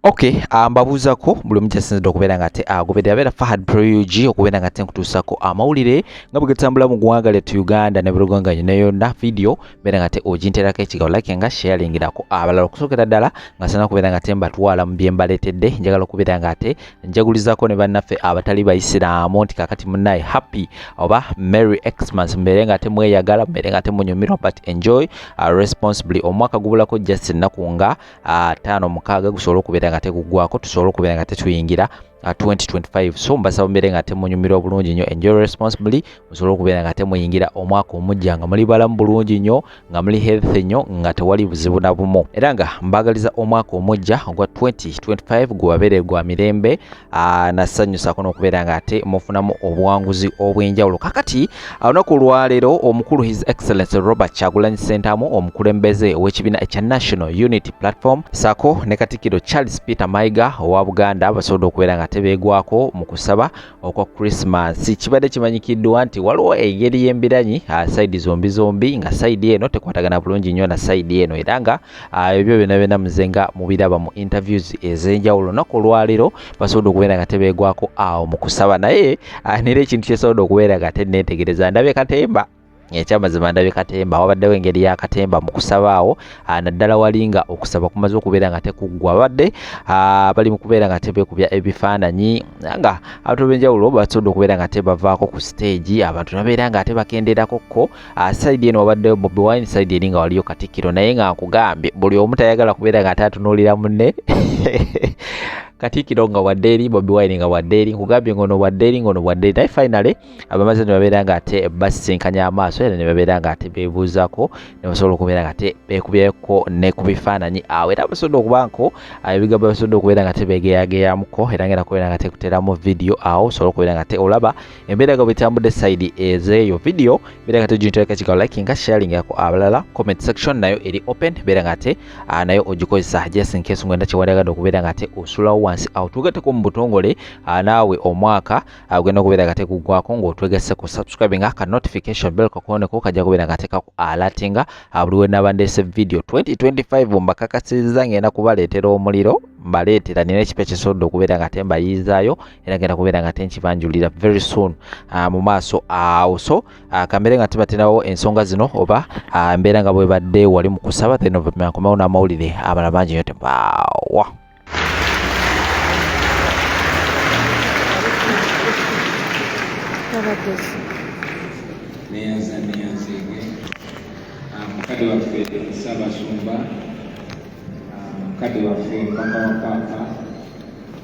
Okay, ah, mbabuuzako um, buli omu gyasinzidde okubeera nga te agoberera ah, abeera Fahad Prog okubeera nga te nkutuusako amawulire nga bwe gatambula mu ggwanga lyettu Uganda ne buluganga nyo ne yonna vidiyo beera nga te oginterako ekigabo like nga sharingirako abalala okusookera ddala nga sina okubeera nga te mbatwala mu bye mbaleetedde njagala okubeera nga te njagulizako ne bannaffe abatali bayisiraamu nti kakati munaye happy oba merry xmas mbeere nga temweyagala mbeere nga temunyumirwa but enjoy uh, responsibly omwaka gubulako just ennaku nga uh, taano mukaaga gusobole okubeera nga tegugwako tusobole okubeera nga tetuyingira 2025 uh, so mbasaba mbeere nga temunyumirwa bulungi nnyo enjoy responsibly musobole okubeera nga temuyingira omwaka omujja nga muli balamu bulungi nnyo nga muli health nnyo nga tewali buzibu na bumu era nga mbagaliza omwaka omujja ogwa 2025 gubabeere gwa mirembe nasanyusako n'okubeera nga ate mufunamu obuwanguzi obw'enjawulo kakati olunaku olwaleero omukulu his excellence robert kyagulanyi sentamu omukulembeze ow'ekibiina ekya national unity platform sako ne katikkiro charles peter maiga owa buganda basobodde okubeera nga tebeegwako mu kusaba okwa Christmas kibadde kimanyikiddwa nti waliwo engeri y'embiranyi ah, sayidi zombi zombi nga sayidi eno tekwatagana bulungi nnyo na sayidi eno era nga ah, ebyo byona byona muze nga mubiraba mu interviews ez'enjawulo naku olwaleero basobodde okubeera nga tebeegwako awo mu kusaba naye ah, nera ekintu kyesobodde okubeera nga tenneetegereza ndabye katemba ekyamazima ndabye katemba wabaddewo engeri ya katemba mu kusaba awo ah, naddala wali nga okusaba kumaze okubeera nga tekuggwa babadde ah, bali mu kubeera nga tebekubya ebifaananyi nga abantu benjawulo basobodde okubeera nga tebavaako ku siteegi abantu nabeera nga ate bakenderako kko ah, saidi eno wabaddewo bobi wine saidi eri nga waliyo katikkiro naye nga nkugambye buli omu tayagala kubeera nga ate atunuulira munne katikkiro nga wadde eri bobi wine nga wadde eri nkugambye ngono wadde eri ngono wadde eri naye finally abamaze ne babeera nga ate basisinkanya amaaso era ne babeera nga ate beebuuzako ne basobola okubeera nga ate beekubyeko ne ku bifaananyi awo era basobodde okuba nko ah, ebigambo basobodde okubeera nga tebeegeyageyamuko era nga era kubeera nga tekuteramu vidiyo awo osobola okubeera nga te olaba embeera nga bwetambudde sayidi ezeeyo vidiyo beera nga tejintoleka kigawo likinga sharingako abalala comment section nayo eri open beera nga ate ah, nayo ogikozesa just in case ngwenda kyewandagade okubeera nga ate osulawo wansi awo tugateko mu butongole ah, naawe omwaka agenda ah, okubeera nga tekuggwako ng'otwegese ku subscribe nga ka notification bell kakoneko kajja kubeera nga teka ku alatinga ah, buli we naba ndeese video 2025 mbakakasiza ng'enda kubaleetera omuliro mbaleetera nina ekipa ekisobodde okubeera nga tembayiizaayo era ngenda kubeera nga tenkibanjulira very soon ah, mu maaso awo so kambeere nga tibatinawo ensonga zino oba mbeera nga bwebadde wali mu kusaba then ovamankomawo n'amawulire amala mangi nyo tebaawa neyanza neyanzeege mukadde waffe sabasumba mukadde waffe mpaka wa paapa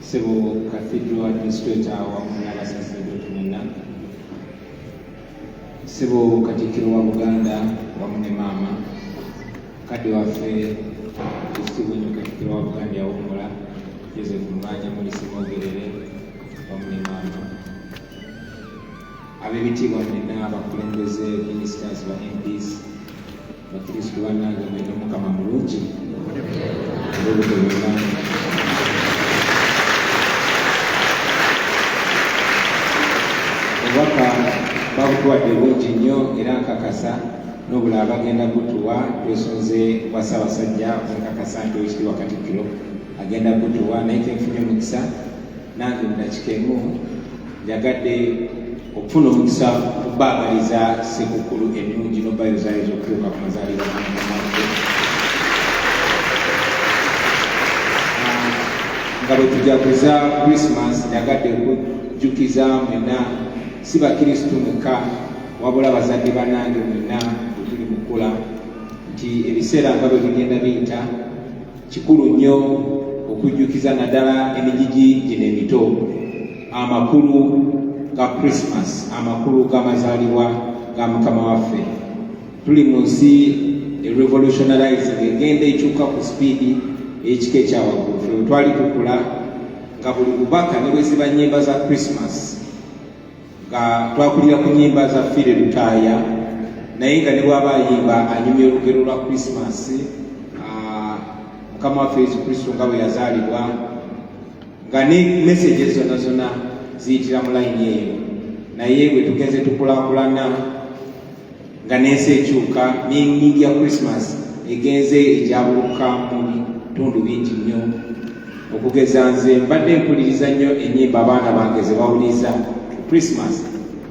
sebo cathedral administrator wamu n'abasaseredoti mwenna Ssebo Katikkiro wa Buganda wamu ne maama kadde waffe ekitiibwa ennyo Katikkiro wa Buganda yawummula Joseph Mulwanya Mulisi Mwogerere wamu ne maama ab'ebitiibwa mwenna abakulembeze ministers ba MPs bakristu banange mwene omukama mulungi obubaka babutuwadde bungi nnyo era nkakasa nobula abagenda gutuwa twesunze bwa ssaabasajja nkakasa nti owekitiibwa katikkiro agenda gutuwa naye kenfunye omukisa nange mudakikemu njagadde okufuna omukisa okubaagaliza sekukulu ennungi nobayo zaayo zokutuuka ku mazaalibwa nga bwe tujaguza christmas njagadde okujjukiza mwena si bakristu mwekka wabula bazadde banange mwena bwetuli mukula nti ebiseera nga bwe bigenda biyita Kikulu nnyo okujjukiza naddala emijiji gino emito amakulu ga Christmas, amakulu g'amazaalibwa ga Mukama waffe. Tuli mu nsi erevolutionalizing egenda ekyuka ku sipiidi ey'ekika ekyawaggulu. Ffe bwe twali tukula nga buli bubaka ne bwe ziba nnyimba za Christmas nga twakulira ku nyimba za fire lutaaya naye nga ne bwaba ayimba anyumya olugero lwa krisimasi ah, mukama waffe yesu kristo nga bwe yazaalibwa nga ne meseje zona zona ziyitira mu layini eyo naye bwe tugenze tukulakulana nga n'ensi ekyuka n'enyingi ya christmas egenze egyabuluka mu bitundu bingi nnyo okugeza nze mbadde mpuliriza nnyo ennyimba abaana bange ze bawuliriza ku christmas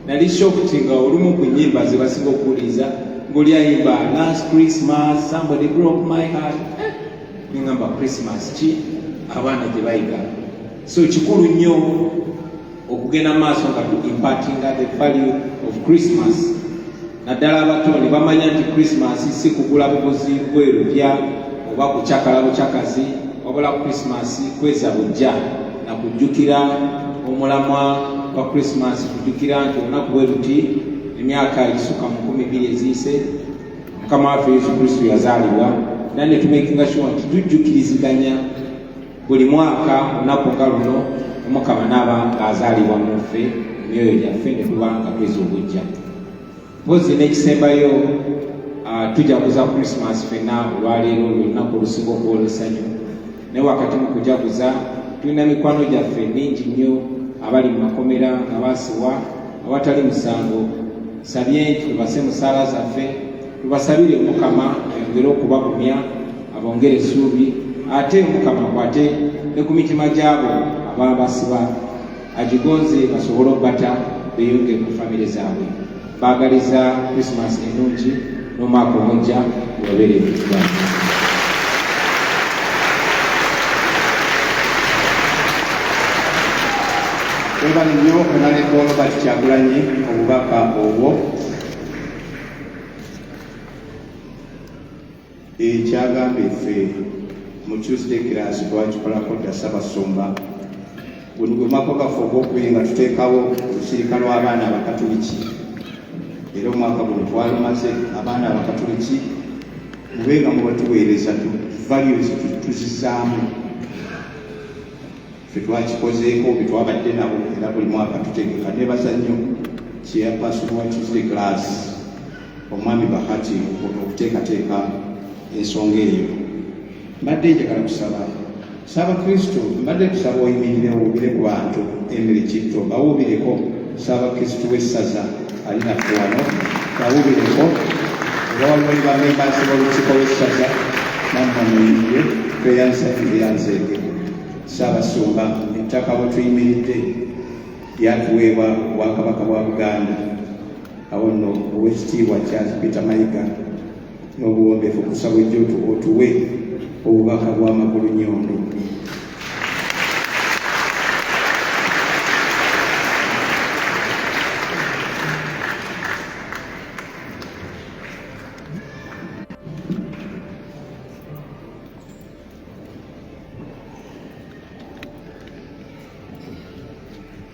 nali shokuti nga olumu ku nnyimba ze basinga okuwuliriza ng'oli ayimba last christmas somebody broke my heart eh, nengamba christmas ki abaana gye bayiga so kikulu nnyo okugenda maaso nga tu impartinga the value of christmas naddala abato ne bamanya nti christmas si kugula buguzi bwerupya oba kucakala bucakazi wabula christmas kweza bujja na kujjukira omulamwa gwa christmas kujjukira nti olunaku bwe luti emyaka egisuka mu nkumi bbiri eziyise mukama waffe yesu kristo yazaalibwa naye ne tumekinga sure nti tujjukiriziganya buli mwaka olunaku nga luno omukama naaba ng'azaalibwa mu nfe emyoyo gyaffe ne tuba nga tweza obujja mpozi n'ekisembayo tujaguza krisimas fenna olwaleero olunaku olusinga okwolwesanyu naye wakati mu kujaguza tulina mikwano gyaffe mingi nnyo abali mu makomera nga basiwa awatali musango sabye nti tubase musaala zaffe tubasabire omukama ayongere okubagumya abongere essuubi ate omukama akwate ne ku mitima gyabo ababa basiba agigonze basobole okubata beyongere mu famire zaabwe baagaliza krisimas ennungi n'omwaka omujja webabeere ebitima webale nnyo onalekoono bati kyagulanyi obubaka obwo ekyagamba efe mu tuesday class twakikolako dda ssabasumba guno gwe mwaka gaffe ogwokubiri nga tuteekawo olusirika lw'abaana abakatuliki era omwaka guno twalumaze abaana abakatuliki mube nga mubatuweereza values tuzizaamu ffe twakikozeeko be twabadde nabo era buli mwaka tutegeka nebaza nnyo chairperson wa tuesday class omwami bahati ono okuteekateeka ensonga eyo mbadde njagala kusaba saabakristo mbadde tusaba oyimirire owubire ku bantu emiri kitto bawubireko saabakristo w'essaza ali naffe wano bawubireko era waliwo ne bamembansi b'olukiiko lw'essaza nammwe muyimire tweyansa eyanzeege Ssaabasumba, ettaka we tuyimiridde lyatuweebwa Obwakabaka bwa Buganda. Awo nno Oweekitiibwa Charles Peter Mayiga n'obuwombeefu okusaba ojja otuwe obubaka bw'amakulu nyondo.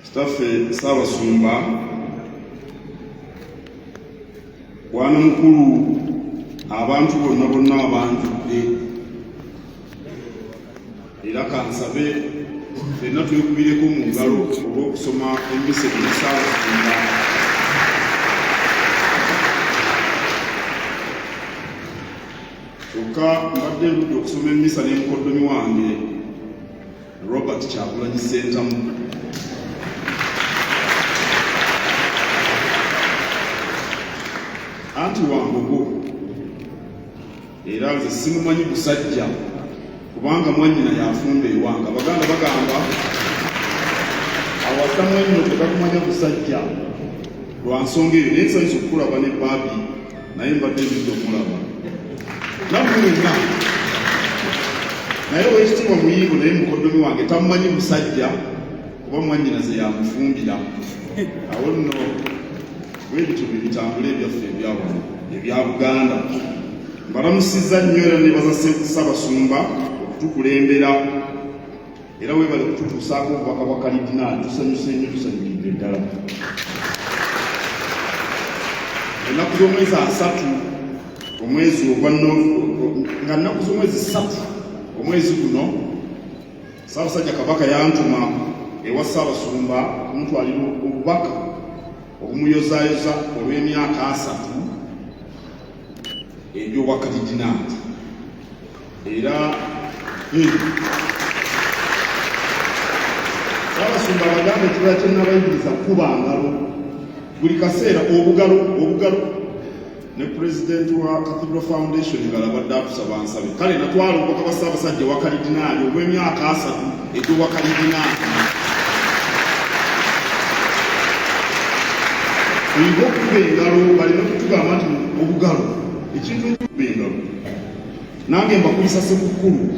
Kitaffe Ssaabasumba bwana mukulu abantu bonna bonna abanjudde era kansabe fenna twekubireko mu ngalo olw'okusoma embise eri Ssaabasumba kyokka mbadde ndudde okusoma emmisa ne mukoddomi wange robert kyagulanyi sentamu anti wambogo era nze simumanyi busajja kubanga mwanyina yafumba ewanga baganda bagamba awasa mwanyina otegakumanya busajja lwa nsonga eyo naye nsanyisa okukulaba ne baabi naye mbadde nzija okumulaba nammwe wenna naye owekitiibwa muyiigo naye mukoddomi wange tamumanyi musajja kuba mwanyinaze yamufumbira awo nno webityo bye bitambula ebyaffe ebyawano ebya buganda mbalamusizza nnyo era nebaza ssabasumba okutukulembera era webale kututuusaako obubaka bwa kalidinaali tusanyuse nnyo tusanyukidde ddala ennaku z'omwezi asatu omwezi ogwa nga nnaku z'omwezi satu omwezi guno saabasajja kabaka yantuma ewa saabasumba kumutwalira obubaka obumuyozayoza olw'emyaka asatu ebyobwakadidinaati era abasumba bagambe ekibala kyenabayigiriza kuba ngalo buli kaseera obugalo obugalo ne pulezidenti wa cathedral foundation ngalabadde atusaba nsabe kale natwala obubaka bwa ssaabasajja ewakaridinaali obw'emyaka asatu egy'owakaridinaali oyinza okukuba engalo baleme kutugamba nti obugalo ekintu ekikuba engalo nange mbakulisa sekukkulu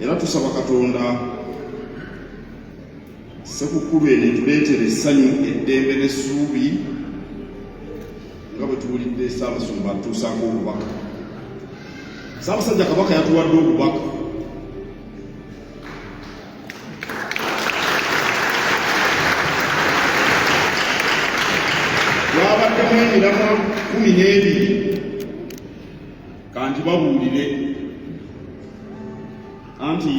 era tusaba katonda sekukkulu eno etuleetera essanyu eddembe n'essuubi nga bwe tuwulidde ssaabasumba atuusaako obubaka ssaabasajja kabaka yatuwadde obubaka bwabaddemu emiramwa kumi n'ebiri kanti babuulire anti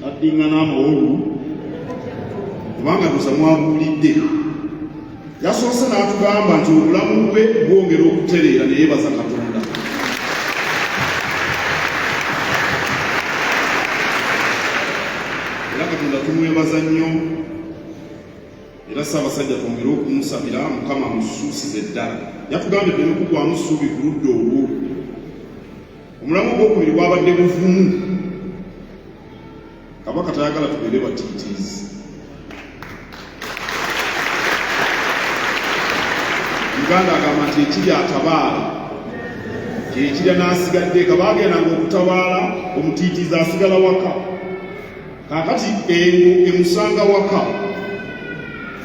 addingana amawolu kubanga tusa mwabuulidde yasoose n'atugamba nti obulamu bwe bwongera okutereera naye baza katonda era katonda tumwebaza nnyo era Ssaabasajja twongere okumusabira Mukama amusuusize ddala yatugambye tuleme kugwamu ssuubi ku ludda olwo omulamu ogwokubiri gwabadde buvumu kabaka tayagala tubeere batiitiizi uganda agamba nti ekiri atabaala kyekirya n'asigadde kabaagendanga okutabaala omutiitiizi asigala waka kaakati eno emusanga waka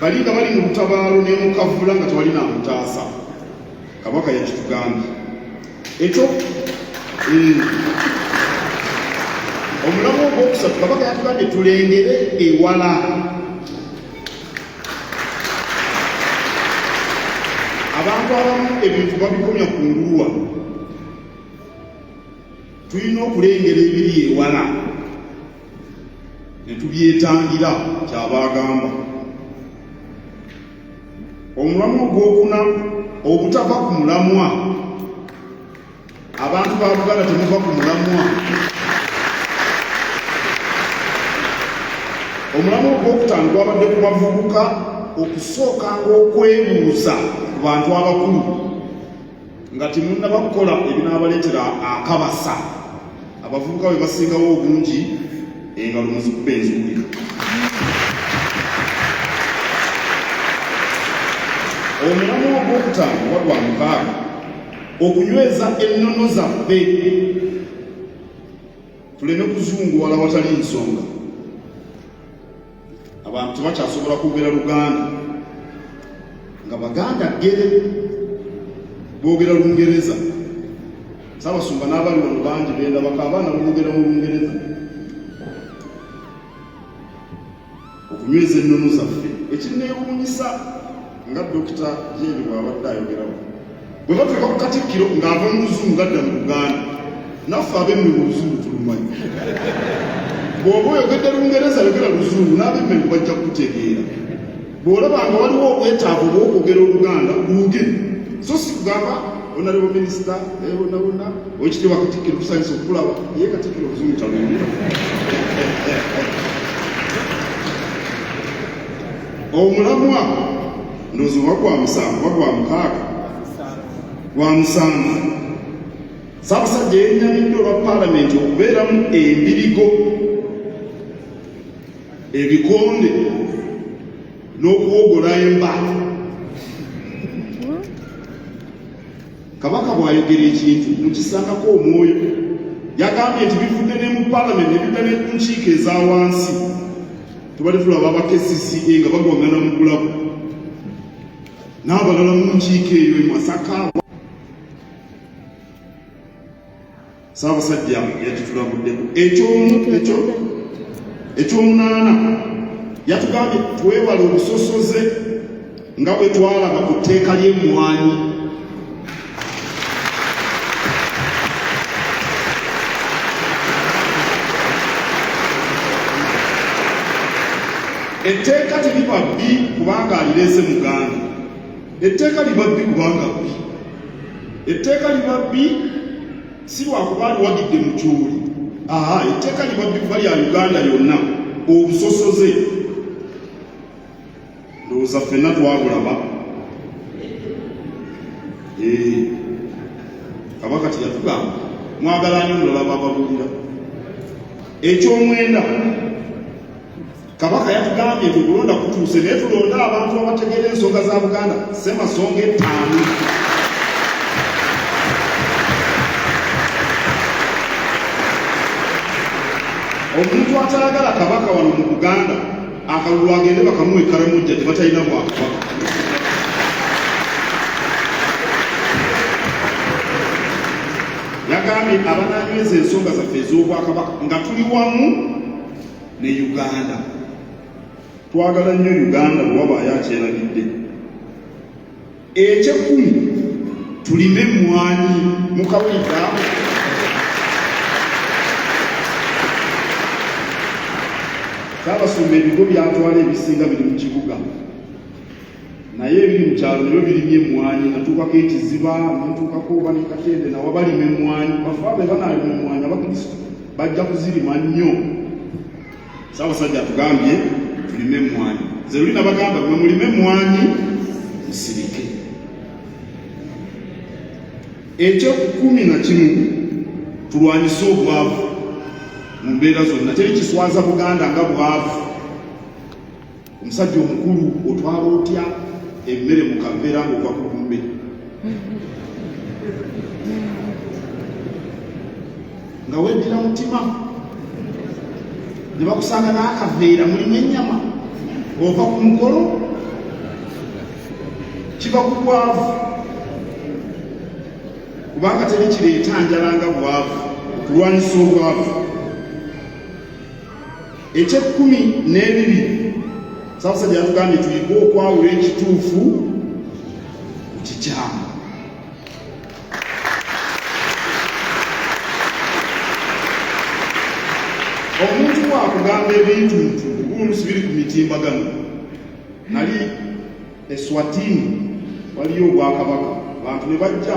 bali nga bali mu lutabaalo nemukavula nga tewali namutaasa kabaka yakitugambye ekyo eh, omulamu ogwokusatu kabaka yatugambye tulengere ewala abantu abamu ebintu babikomya ku nguluwa tulina okulengera ebiri ewala ne tubyetangira kyabagamba omulamwa ogwokuna obutava ku mulamwa abantu ba buganda temuva ku mulamwa omulamwa ogwokutaano gwabadde ku bavubuka okusookanga okwebuuza ku bantu abakulu nga temunnaba kukola ebinaabaleetera akabasa abavubuka bwe basingawo obungi engalo muzikuba enzuulika omulamu ogwokutaano oba gwa mukaaga okunyweza ennono zaffe tuleme kuzunguwala watali nsonga abantu tebakyasobola kwogera luganda nga baganda gere boogera lungereza sabasumba n'abali wano bangi benda baka abaana boogera mu lungereza okunyweza ennono zaffe ekinneewuunyisa nga dokita jeeri bw'abadde ayogeramu bwe batuuka ku katikkiro ng'ava mu luzungu adda mu luganda naffe abemme mu luzungu tulumanyi bw'oba oyogedde lungereza yogera luzungu n'abemme mu bajja kutegeera bw'olaba nga waliwo obwetaavu obw'okwogera oluganda luuge so si kugamba onaliwo minisita ebonabona eh, okitibwa katikkiro tusanyisa okukulaba ye katikkiro oluzungu talungi omulamwa ndowooza oba gwa musanvu oba gwa mukaaga gwa musanvu saabasajja yenyamidde olwa paalamenti okubeeramu embirigo ebikonde n'okuwogola emba kabaka bw'ayogera ekintu mukisangako omwoyo yagambye nti bivudde ne mu paalamenti ne bidda ne ku nkiiko eza wansi tubadde tulaba aba kcca nga bagwagana mu kulabo n'abalala mu nkiiko eyo e masaka saabasajja yakitulabuddeko ekyomunaana yatugambye twewale obusosoze nga bwe twalaba ku tteeka ly'emmwanyi etteeka teriba bbi kubanga alireese muganda etteeka liba bbi kubanga bbi etteeka liba bbi si lwakuba aliwagidde mukyuli aha etteeka liba bbi kuba lya uganda yonna obusosoze ndowooza ffenna twabulaba eh, kabaka teyatugamba mwagala nyo mulala bababulira ekyomwenda kabaka yatugambye nti okulonda kutuuse naye tulonde abantu abategeera ensonga za buganda semasonga ettaano omuntu atayagala kabaka wano mu buganda akalulu agende bakamuwe karamujja tebatalina bwakabaka yagambye abananyweza ensonga zaffe ez'obwakabaka nga tuli wamu ne uganda twagala nnyo uganda bwewabaayo akyerabidde Ekyekumi tulime emmwanyi mu kawulika Saabasumba ebigo byatwala ebisinga biri mu kibuga naye ebiri mu kyalo nabyo birimye emmwanyi natuukako ekiziba natuukako oba ne katende nawa balima emmwanyi bafabe banaalima emmwanyi abakristo bajja kuzirima nnyo Ssaabasajja atugambye tulime emmwanyi, nze luli nabagamba mwe mulime emmwanyi musirike. Eky'ekkumi na kimu tulwanyise obwavu mu mbeera zonna, teri kiswaza Buganda nga bwavu. Omusajja omukulu otwala otya emmere mu kaveera ng'ova ku lumbe? nga weddira mutima ne bakusanga n'akaveera mulimu ennyama ova ku mukolo kiva ku bwavu kubanga teri kireeta njala nga bwavu okulwanyisa obwavu ekyekkumi n'ebiri samusajja yatugambye tuyige okwawula ekituufu ku kikyamu omuntu wakugamba ebintu nti obulusi biri ku mitimbagano nali eswatini waliyo obwakabaka bantu ne bajja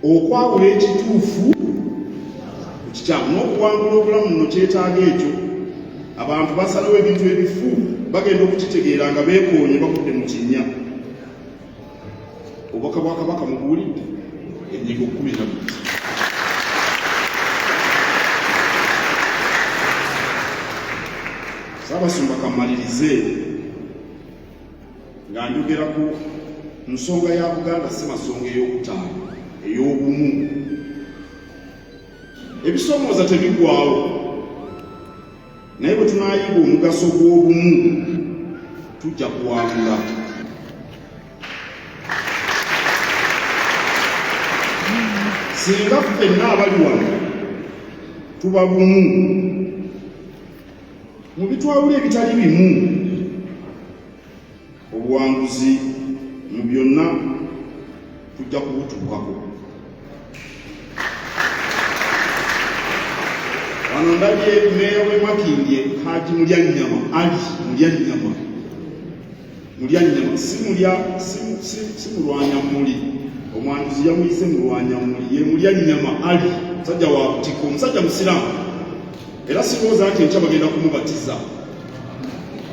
okwawula ekituufu kikyamu n'okuwangula obulamu no kyetaaga ekyo abantu basalawo ebintu ebifu bagenda okukitegeera nga beekoonye bakudde mu kinnya obubaka bwa kabaka mubuwulidde enyigo kumi na bbiri saabasumba kamalirize nga njogera ku nsonga ya buganda si masonga ey'okutaano ey'obumu ebisomooza tebigwawo naye bwe tunayiga omugaso gw'obumu tujja kuwangula singa ffenna abali wano tuba bumu Mu bitwawula ebitali bimu obuwanguzi mu byonna tujja kubutuukako. Wano ndabye meeya w'e Makindye Haji Mulyannyama Ali Mulyannyama mulya nnyama si mulya si mulwanya muli omwanjuzi yamuyise mulwanya muli ye mulya nnyama ali musajja wa butiko omusajja musiraamu era sirowooza nti enkya bagenda kumubatiza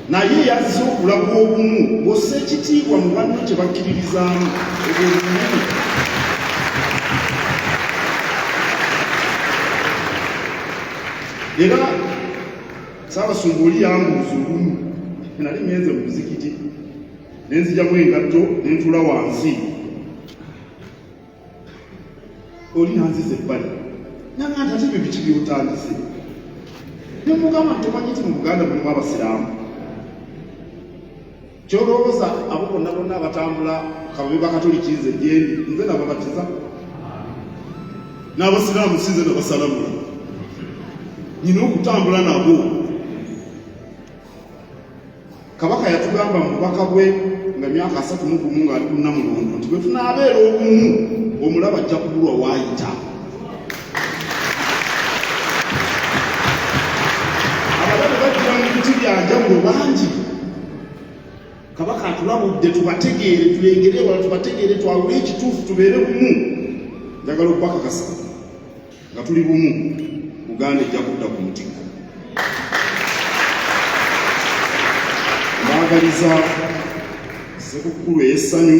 naye yazze okulaga obumu bwosa ekitiibwa mu banno kye bakkiririzaamu obwobumu era Ssaabasumba oli yambuuza olumu nali ngenze mu muzikiti ne nzijamu engatto ne ntuula wansi oli nanziza ebbali nanga nti ate bibiki byotandise nemugamba nti omanyi nti mu buganda mulimu abasiraamu kyolowooza abo bonna bonna abatambula kababe bakatoliki nze gyendi nze nababatiza n'abasiraamu sinze nabasalamula nyina okutambula nabo kabaka yatugamba mubaka bwe nga myaka asatu mugumu ng'ali kunnamulondo nti bwe tunaabeera obumu omulaba ajja kubulwa waayita abalabe bajja mu biti bya njawulo bangi kabaka atulabudde tubategeere tulengere wala tubategeere twawule ekituufu tubeere bumu njagala okubakakasa nga tuli bumu uganda ejja kudda ku mutikko mbaagaliza sekukkulu ey'essanyu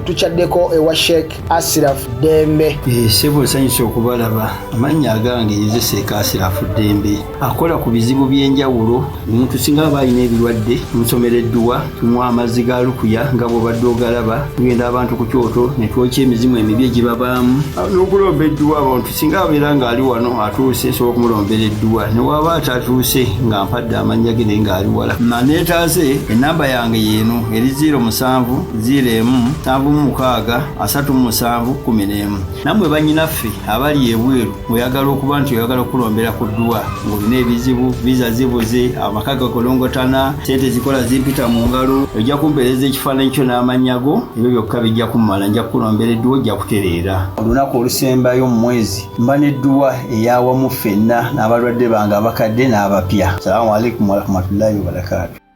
tukyaddeko ewa sheik asiraf dembe eh, sebo nsanyusa okubalaba amannya agange nze sheik asiraf dembe akola ku bizibu by'enjawulo omuntu singa aba alina ebirwadde musomera edduwa tumuwa amazzi ga lukuya nga bwobadde ogalaba tugenda abantu ku kyoto ne twokya emizimu emibi egibabaamu n'okulomba edduwa abantu singa abeera ng'ali wano atuuse nsobola okumulombera edduwa ne waaba atatuuse nga mpadde amannya ge naye ng'ali wala maneetaaze ennamba yange yeeno eri 0 musanvu 0 emu nsanvu mu mukaaga asatu mu musanvu kumi n'emu nammwe bannyinaffe abali ebweru oyagala okuba nti oyagala okukulombera ku dduwa ng'olina ebizibu viza zibuze amaka gakolongotana sente zikola zimpita mu ngalo ojja kumpeereza ekifaananyi kyo n'amannya go ebyo byokka bijja kummala nja kukulombera edduwa ojja kutereera olunaku olusembayo mu mwezi mba n'edduwa eyawamu ffenna n'abalwadde bange abakadde n'abapya salamu alaikum warahmatullahi wabarakatu